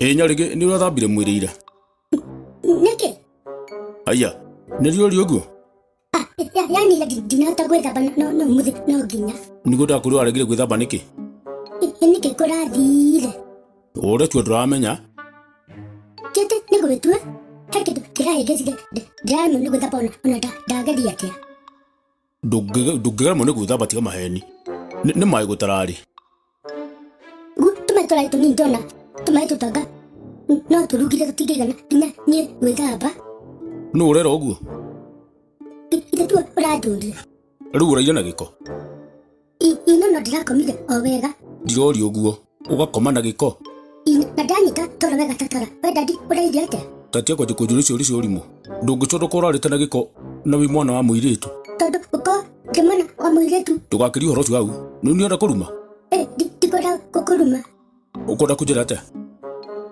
ä nyarä gä nä å rathambire mwä rä ira nĩkĩ aya nä riå rä å guo Ah, ya- yani ya- ndi- ndinahota gwĩthamba no- no- no mũthĩ no nginya nä gå ndakå rä waregire gwä thamba nä kä Ĩ- ĩ nĩkĩ kũrathire å retua ndå ramenya kĩndĩ nĩ gwĩtua he kĩndũ kĩrahĩngĩcire ndĩramenya nĩ gwĩthamba ona ona nda- ndageria atĩa Ndũngĩ- ndũngĩgeremwo nĩ gwĩthamba tiga maheni Nĩ- nĩ maĩ gũtararĩ tũmaĩ tũrarĩ tũnini tona tũmaĩ tũtanga no tũrugire tũtingĩigana nginya niĩ gwĩthamba nũ ũrera ũguo ithe tu ũranjũria rĩu ũraire na gĩko I- ina no ndirakomire o wega ndiroria ũguo ũgakoma na gĩko Ina, na ndanyita toro wega tatara we dadi ũrairie atĩa tatia kwanjia kũnjũria ciũria cia ũrimũ ndũngĩconoka ũrarĩte na gĩko na wĩ mwana wa mũirĩtu tondũ ũkorwo ndĩ mwana wa mũirĩtu ndũgakĩria ũhoro ũcio hau nĩ niona kũruma Eh, ndi- ndikwenda gũkũruma ũkwenda kũnjĩra atĩa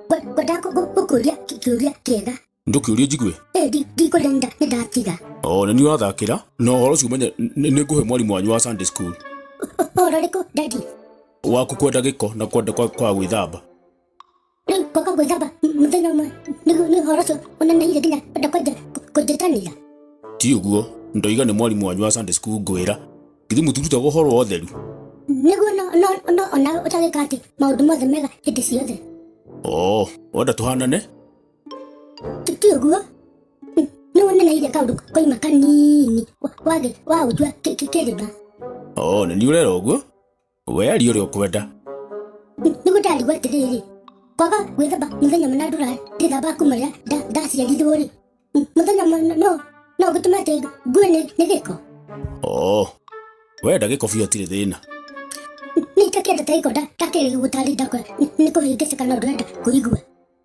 Ngwe- ngwendaga gũkũria kĩũria kĩega ndũkĩũrie njigue Eh, ndi- ndikũrĩra nĩ nda- nĩ ndatiga o nĩ niĩ ũrathakĩra na ũhoro ũcio ũmenye nĩ nĩ ngũhe mwarimũ wanyu wa sunday school ũhoro ũrĩkũ dadi waku kwenda gĩko na kwenda kwa kwa gwĩthamba rĩu ngoka gwĩthamba m- mũthenya ũmwe nĩguo nĩ ũhoro ũcio ũneneire nginya kwenda kwenja kũnjĩtanĩra ti ũguo ndoiga nĩ mwarimũ wanyu wa sunday school ngwĩra githĩ mũtirutaga ũhoro wa ũtheru nĩguo no- no- no ona ũtagĩka atĩ maũndũ mothe mega hĩndĩ ciothe o wenda tũhanane ti ũguo nĩ wonereire kaũndũ koima kanini wagĩ wa ũjua kĩrĩma o nĩ niĩ ũrera ũguo we aria ũrĩa ũkwenda nĩguo ndarigwo atĩrĩrĩ kwaga gwĩthamba mũthenya mũna ndũra ndĩthamba kuma rĩa nda- ndaciarirwo rĩ mũthenya mũna no no gũtũma atĩ ngue nĩ nĩ gĩko o we ndagĩko biũ atirĩ thĩna nĩ itakĩenda ta gĩko ndakĩrĩ gũtarĩ ndakora nĩ kũhĩngĩcĩka na ndũrenda kũigua